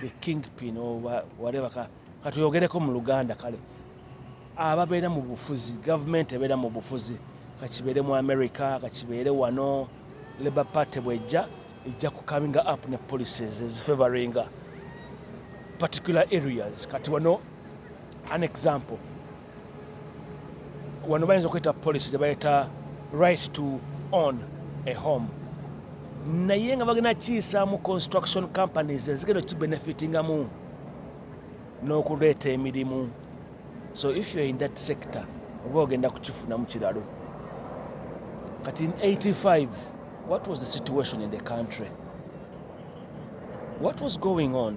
the kingpin or whatever ka katuyogereko mu luganda kale ababeera mu bufuzi gavumenti ebeera mu bufuzi kakibeere mu america kakibeere wano labour party bwejja ejja ku coming up ne policies ezifavoringa particular areas kati wano an example wano bayinza okuyita policy gyebayita right to own a home naye nga bagenda kiyisaamu construction companies ezigenda okibenefitingamu n'okuleeta emirimu so if you're in that sector oba ogenda kukifunamu kiralo kati in 85 what was the situation in the country what was going on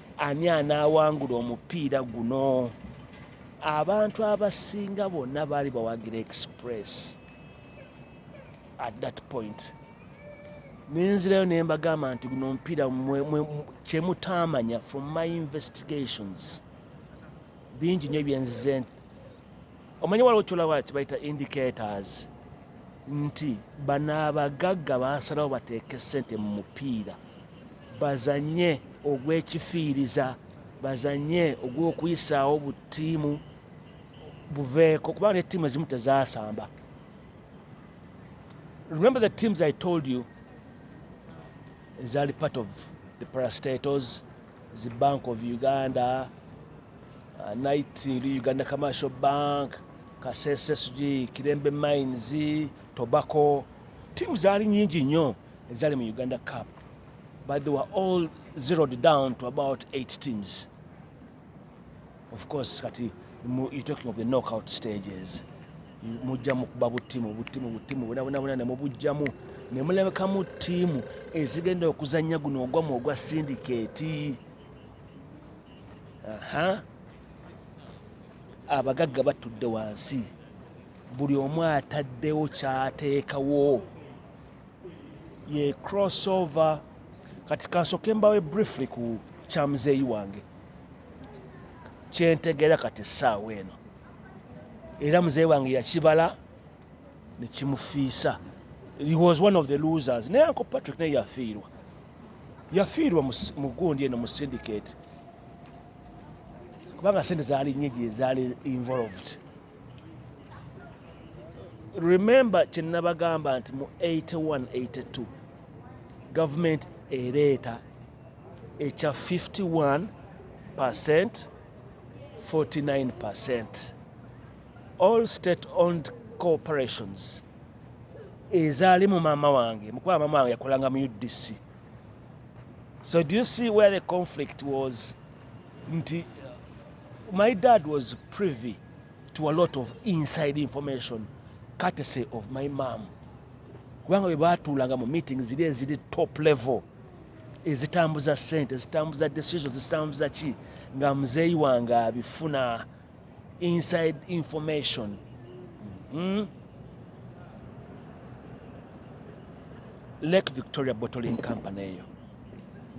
Ani anaawangula omupiira guno? Abantu abasinga bonna baali bawagira Express at that point. Nenzirayo ne mbagamba nti guno omupiira kye mutaamanya from my investigations bingi nnyo byenzize nti omanyi waliwo kyolawa kibayita indicators nti bano abagagga baasalawo bateeke ssente mu mupiira bazannye ogw'ekifiiriza, bazannye ogw'okuyisaawo bu ttiimu buveeko kubanga ne ttiimu ezimu tezaasamba. Remember the teams I told you ezaali part of the parastators, the Bank of Uganda, uh, Night Uganda Commercial Bank, Kasese Suji, Kirembe Mines, Tobacco, tiimu zaali nyingi nnyo. ezaali mu uganda cup but they were all zeroed down to about eight teams of course kati you're talking of the knockout stages mujjamu kuba butimu butimu butimu bonabonabona nemubujjamu nemulabekamu ttiimu ezigenda okuzanya guno ogwamu ogwa sindikeeti aha abagagga batudde wansi buli omu ataddewo kyateekawo ye crossover kati kansoke mbawe briefly ku kya muzeeyi wange kyentegeera kati essaawa eno era muzeeyi wange yakibala nekimufiisa he was one of the losers naye anko patrick naye yafiirwa yafiirwa mu gundi eno mu syndicate kubanga sente zaali nyingi ezaali involved remember kyenabagamba nti mu 8182 gavumenti ereeta ekya 51 percent 49 percent all state owned corporations ezaali mu maama wange mukuba maama wange yakolanga mu udc so do you see where the conflict was nti My dad was privy to a lot of inside information courtesy of my mom kubanga bwe baatuulanga mu meeting ziri eziri top level ezitambuza sente ezitambuza decisions ezitambuza ki nga muzeeyi wange abifuna inside information mm? lake victoria bottling company eyo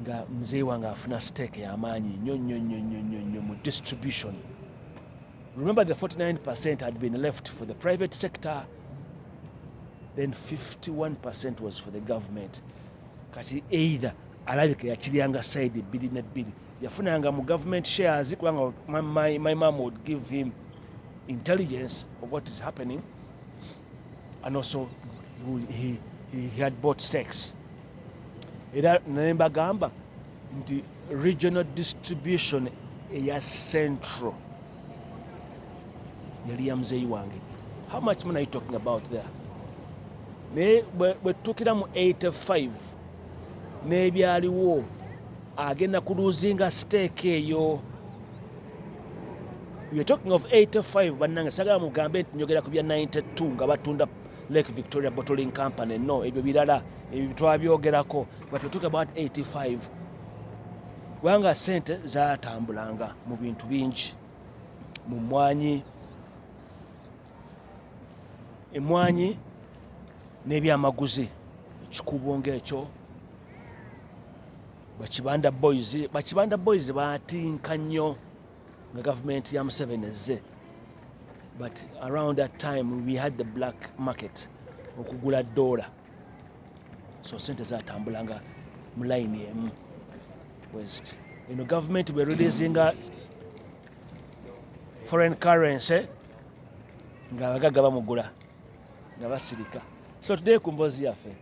nga mzee wange afuna stake yamaanyi nnyo nnyo nnyo nnyo nnyo nnyo mu distribution remember the 49 percent had been left for the private sector then 51 percent was for the government kati either alabika yakiryanga side ebbiri nebbiri yafunanga mu government shares kubanga my, my, my mom would give him intelligence of what is happening and also he, he, he had bought stakes era naye mbagamba nti regional distribution eya central yali ya muzeeyi wange how much money are you talking about there naye bwetutukira mu 85 n'ebyaliwo agenda kuluzinga steeka eyo You're talking of 85 bannange sagala mugambe nti njogera ku bya 92 nga batunda Lake Victoria Bottling Company no ebyo birala ebyo twabyogerako but we talk about 85 kubanga sente zatambulanga mu bintu bingi mu mwanyi emwanyi n'ebyamaguzi ekikubo ng'ekyo bakibanda boys bakibanda boys batinka nnyo nga gavumenti ya museveni ezze but around that time we had the black market okugula doola so sente zatambulanga mu layini emu west eno gavumenti bwe releasinga foreign currency ng'abagagga bamugula nga basirika so today ku mboozi yaffe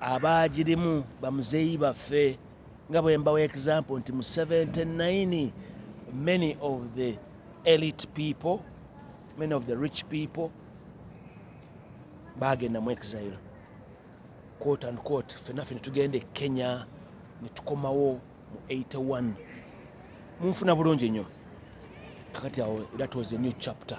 abaagirimu bamuzeeyi baffe nga bwe mbawa example nti mu 79 many of the elite people many of the rich people baagenda mu exile quote and quote fenaffe ne tugenda e kenya ne tukomawo mu 81 munfuna bulungi nnyo kakati awo that was a new chapter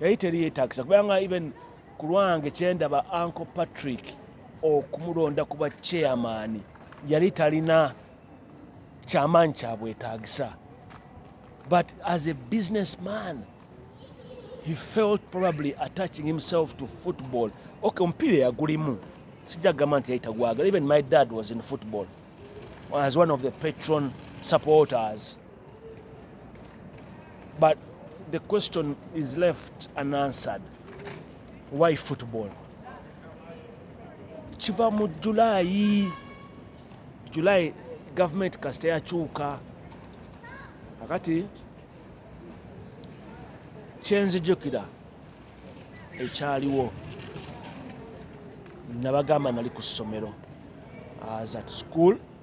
yali teri yetagisa kubanga even kulwange kyendaba uncle patrick okumulonda kuba chairman yali talina kyamaanyi kyabwetagisa but as a business man he felt probably attaching himself to football okay omupiira yagulimu sijja kugamba nti yayitagwagala even my dad was in football as one of the patron supporters But the question is left unanswered. Why football? Kiva mu July. July government kasita yakyuka. Akati kyenzijukira ekyaliwo nabagamba nali ku ssomero as at school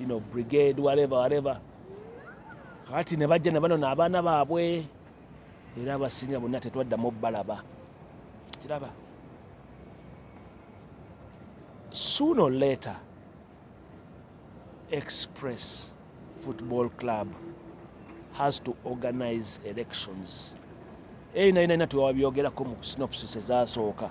you know, brigade whatever whatever kati ne bajja ne banona abaana baabwe era abasinga bonna tetwaddamu balaba kiraba sooner or later express football club has to organize elections eyo nayo nayina twewabyogerako mu synopsis ezasooka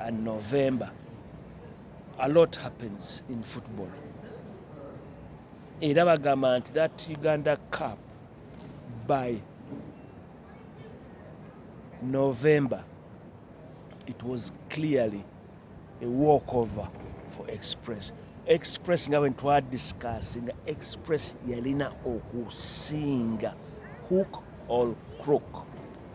and November, a lot happens in football. Era bagamba nti that Uganda Cup by November, it was clearly a walkover for Express. Express nga when twa discussing, Express yalina okusinga hook or crook.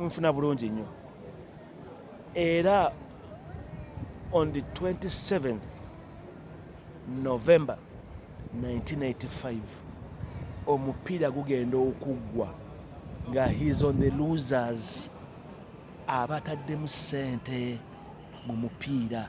nfuna bulungi nnyo era on the 27th november 1985 omupiira gugenda okuggwa nga his on the losers abataddemu ssente mu mupiira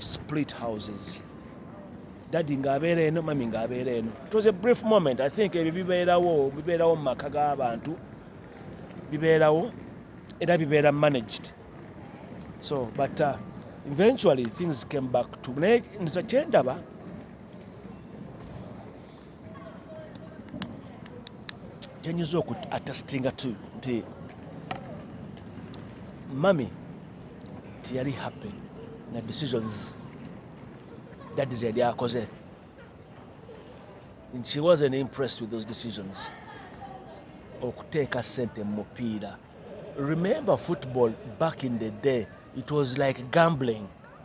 split houses dadi ng'abeera eno mami ng'abeera eno it was a brief moment i think ebyo bibeerawo bibeerawo mu maka g'abantu bibeerawo era bibeera managed so but uh, eventually things came back to naye nza kyendaba yanyuze oku atestinga tu nti mami tiyali happy na decisions dadi zeyali akoze she wasn't impressed with those decisions okuteeka sente mu mupiira remember football back in the day it was like gambling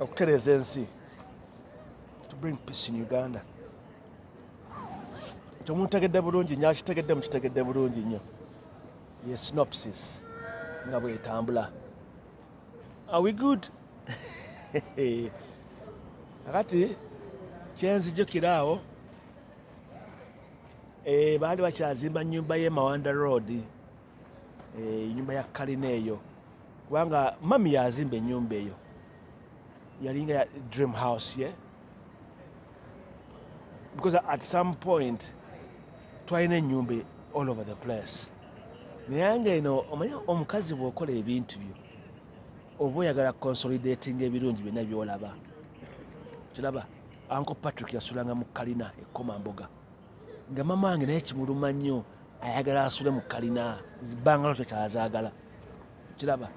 okutereeza ensi to bring peace in uganda temutegedde bulungi nyo akitegedde mukitegedde bulungi nnyo ye synopsis nga bwetambula are we good akati kyenzijukira awo eh, baali bakyazimba nyumba ye mawanda road enyumba eh, ya kalina eyo kubanga mami yazimba enyumba eyo yalinga ya dream house ye because at some point twalina enyumba all over the place naye nga eno omanye omukazi bwokola ebintu byo oba oyagala consolidating ebirungi byonna byolaba kiraba anko patrick yasulanga mu kalina ekoma mboga nga mama wange naye kimuluma nnyo ayagala asule mu kalina bangalo tekyazagala kiraba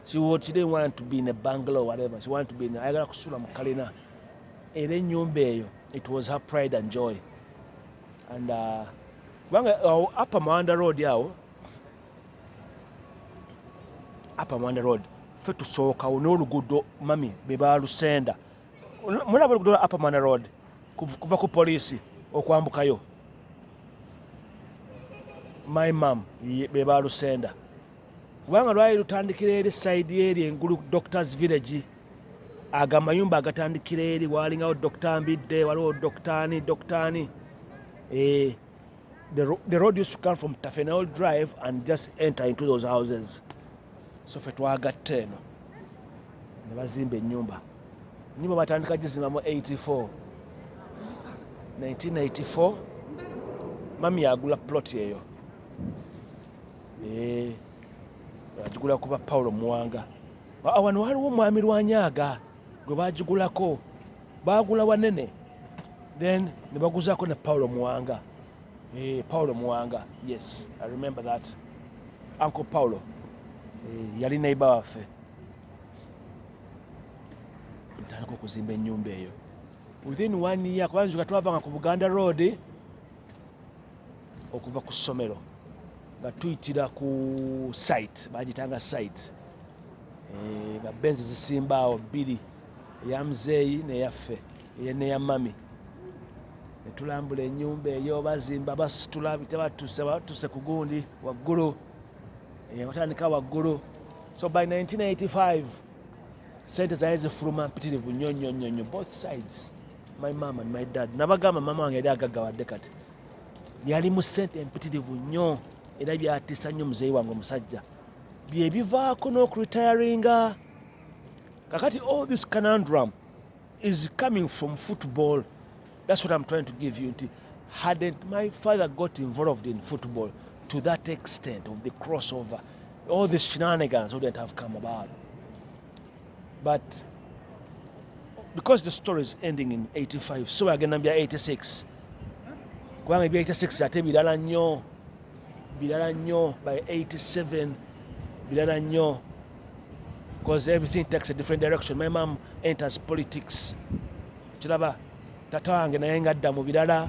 kiwotire want to be in a bangalo whatever she want to be in ayagala kusula mu kalina era enyumba eyo it was her pride and joy and uh, kubanga uh, upper mawanda road awo upper mawanda road fe tusookawo n'oluguudo mami bebalusenda mulaba oluguudo lwa upper manor road kuva ku poliisi okwambukayo my mam be balusenda kubanga lwali lutandikira eri saidi eri engulu doctors village aga mayumba agatandikira eri walingawo dokta mbidde waliwo doktani doktani ee eh. The, ro the road used to come from Tafenel Drive and just enter into those houses. So fe twagatta eno ne bazimba ennyumba. Ennyumba batandika gizimba mu 84. 1984 mami yagula plot eyo. Eh. Agigula kuba Paulo Muwanga. Awano waliwo omwami Lwanyaga. gwe bagigulako baagula wanene then ne baguzaako ne paulo muwanga eh, paulo muwanga yes i remember that uncle paulo eh, yali naiba waffe tutandika okuzimba ennyumba eyo within one year kubanjuka twavanga ku buganda road okuva ku ssomero nga tuyitira ku site bagitanga site eh, nga benzi zisimbaawo bbiri eya muzeeyi neyaffe neya mami netulambula enyumba eyo bazimba basitula bitebatuse batuse ku gundi waggulu eh, watandika waggulu so by 1985 sente zaali zifuluma mpitirivu nyo nyo nyo nyo both sides my mom and my dad nabagamba mama wange yali agaggawadde kati yali mu sente empitirivu nnyo era byatiisa nnyo muzeeyi wange omusajja byebivaako n'okuritayaringa kakati all this canandrum is coming from football that's what i'm trying to give you nti hadn't my father got involved in football to that extent of the crossover all these shenanigans wouldn't have come about but because the story is ending in 85 so agenda bya 86 kubanga ebya 86 ate birala nnyo birala nnyo by 87 birala nnyo because everything takes a different direction my mom enters politics kiraba tata wange naye nga adda mu birala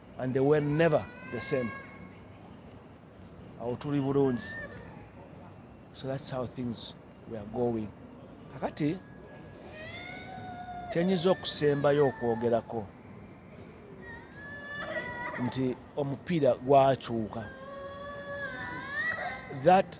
and they were never the same awo tuli bulungi so that's how things were going kakati kyenyiza okusembayo okwogerako nti omupiira gwakyuka that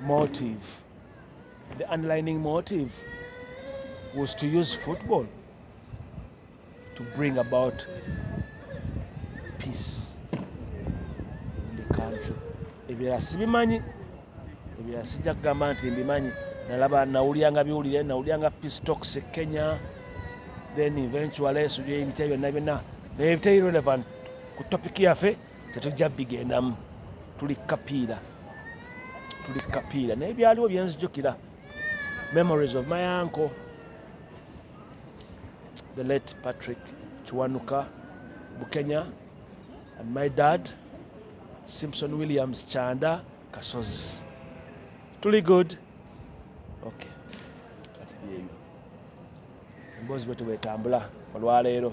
motive. The underlining motive was to use football to bring about peace in the country. Ebirala sibimanyi, ebirala sijja kugamba nti mbimanyi. Nalaba nawulyanga biwulire, nawulyanga peace talks e Kenya, then eventually sujja ebitya byonna byonna naye bitali relevant ku topic yaffe. tetujja bigendamu tuli kapiira tuli kapiira naye byaliwo byenzijukira memories of my uncle the late patrick kiwanuka bukenya and my dad simpson williams chanda kasozi tuli good ok kati byeyo emboozi bwetu bwetambula olwaleero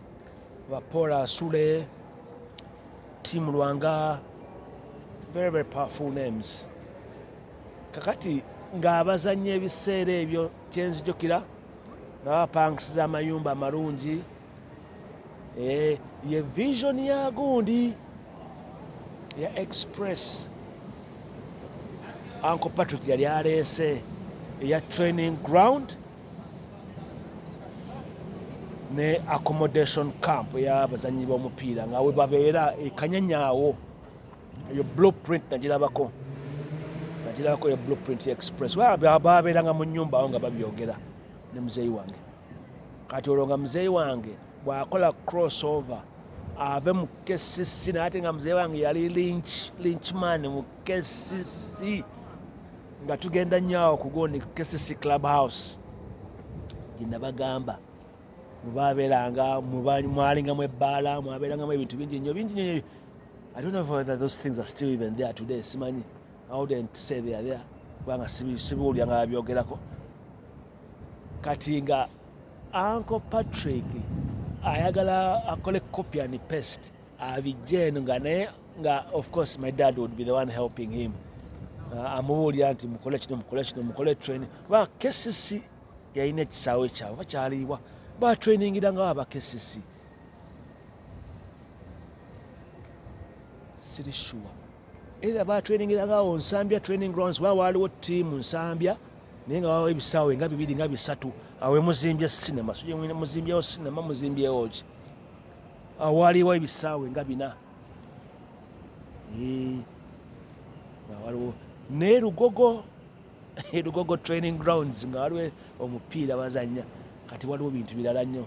Bapola Sule, Team Lwanga, very very powerful names. Kakati ng'abazannya ebiseera ebyo kyenzijukira nga bapangisiza amayumba amalungi eh, ye vision ya gundi ya express anko patrick yali aleese eya training ground ne accommodation camp yabazanyi bomupiira nga webabeera ekanyanyawo eyo blueprint nagirabako nagirabako eyo blueprint express babeeranga mu nyumba awo nga babyogera ne muzeeyi wange kati olwo nga muzeeyi wange bwakola cross over ave mu kcc naye ate nga muzeeyi wange yali lynch man mu KCC nga tugenda nnyo awo ku gundi KCC Club House gye nabagamba mubaabeeranga mwalingamu ebbaala mwabeerangamu ebintu bingi nnyo bingi nnyo I don't know whether those things are still even there today simanyi I wouldn't say they are there kubanga sibiwulira nga babyogerako kati nga Uncle Patrick ayagala akole copy and paste abijja eno nga naye nga of course my dad would be the one helping him uh, amubuulira nti mukole kino mukole kino mukole training ba kesisi yalina ekisaawe kyabwe bakyaliibwa batrainingira nga baba kesisi siri sure era batrainingira ngawo nsambya training grounds ba waaliwo tiimu nsambya naye nga wawo ebisaawe nga bibiri nga bisatu awemuzimbye sinema suje muzimbyewo sinema muzimbyewo ki awaaliwo ebisaawe nga bina waliwo naye lugogo lugogo training grounds nga waliwo omupiira bazanya kati waliwo bintu birala nnyo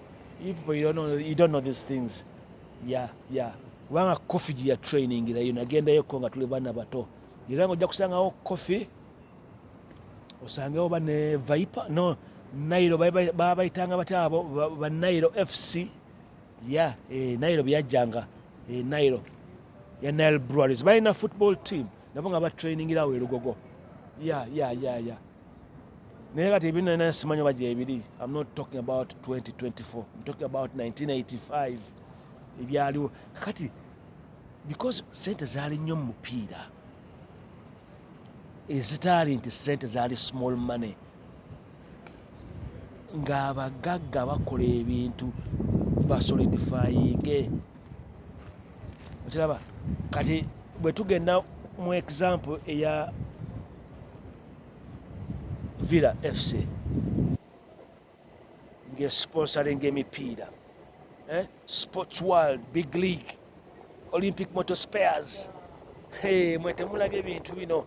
you don't know these things ya ya kubanga kofi gye yatrainingirayo nagendayoko nga tuli baana bato era nga ojja kusangawo kofi osangewo bane viper no nairo babayitanga batya abo banairo fc ya eh, nairo byajjanga eh, nairo ya nile breweries balina football team nabo nga batrainingirawo erugogo ya ya ya ya naye kati ebino nina simanyo baja ebiri im not talking about 2024 im talking about 1985 ebyaliwo kakati because sente zaali nnyo mu mupiira ezitaali nti sente zaali small money ng'abagagga bakola ebintu basolidifayinge okiraba kati bwe tugenda mu example eya villa fc ngesponsoringa emipiira eh? sports world big league olympic motor spares hey, mwetemulaga ebintu bino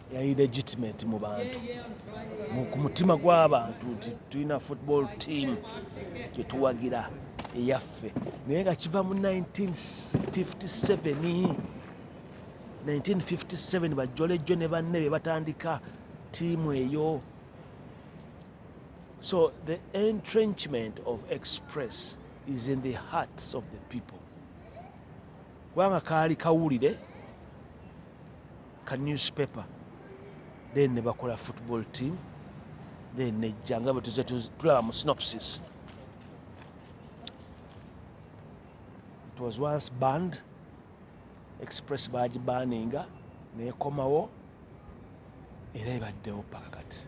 yali legitimate mu bantu ku mutima gw'abantu nti tulina football team gyetuwagira eyaffe naye nga kiva mu 1957 1957 bajjolejjo ne banne be batandika tiimu eyo so the entrenchment of express is in the hearts of the people kubanga kaali kawulire ka newspaper then ne bakola football team then nejja nga bwe tuze tulaba mu synopsis it was once band express bagibaninga nekomawo era ebaddewo paka kati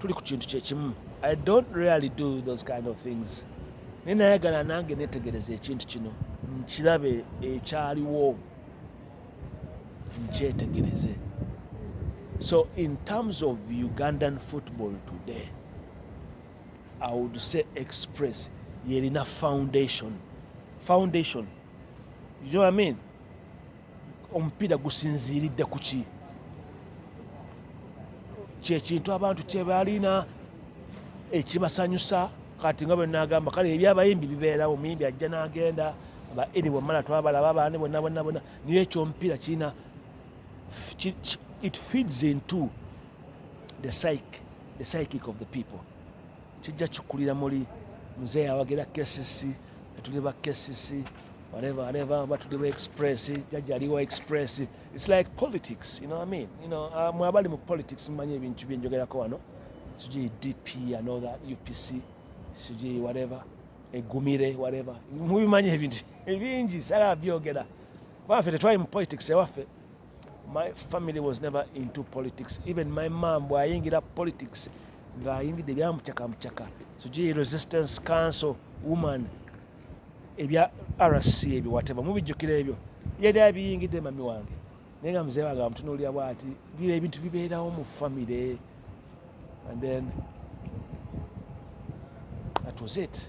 tuli ku kintu kyekimu i don't really do those kind of things naye nayagala nange netegereza ekintu kino nkirabe ekyaliwo nkyetegereze so in terms of ugandan football today i would say express yerina foundation foundation you know what i mean omupiira gusinziiridde ku ki kyekintu abantu kyebalina ekibasanyusa kati nga bwenagamba kale ebyabayimbi bibeerawo omuyimbi ajja nagenda ba eri bwemala twabalaba baani bonna bonna bonna niyo ekyomupiira kirina it feeds into the psych the psychic of the people kijja kikulira muli mzee awagira kcc etuli ba kcc whatever whatever batuli ba express jajja aliwa express it's like politics you know what i mean you know uh, mwabali mu politics mmanyi ebintu byenjogerako wano sijui dp and all that upc sijui whatever egumire whatever mubimanyi ebintu ebingi sala byogera baffe tetwali mu politics ewaffe My family was never into politics. Even my mom bwayingira politics ng'ayingidde ebyamucaka mucaka sijui resistance council woman ebya rc ebyo wateva mubijjukira ebyo yali abiyingidde mami wange naye nga muzee wange amutunuulira bwati bira ebintu bibeerawo mu famire and then that was it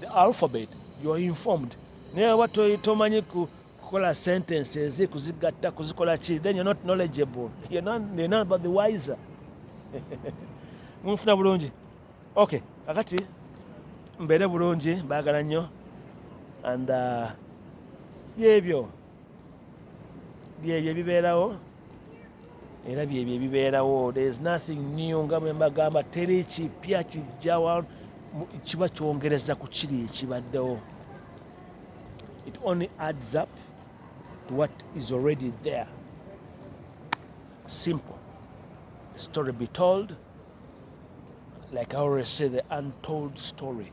the alphabet you are informed naye oba tomanyi kukola sentences kuzigatta kuzikola ki then you're not knowledgeable you're not, you're not about the wiser munfuna bulungi okay kakati mbeere bulungi mbaagala nnyo and uh, byebyo byebyo ebibeerawo era byebyo ebibeerawo there is nothing new nga bwe mbagamba teri kipya kijjawa kiba kyongereza ku kiri ekibaddewo it only adds up to what is already there simple story be told like i always say the untold story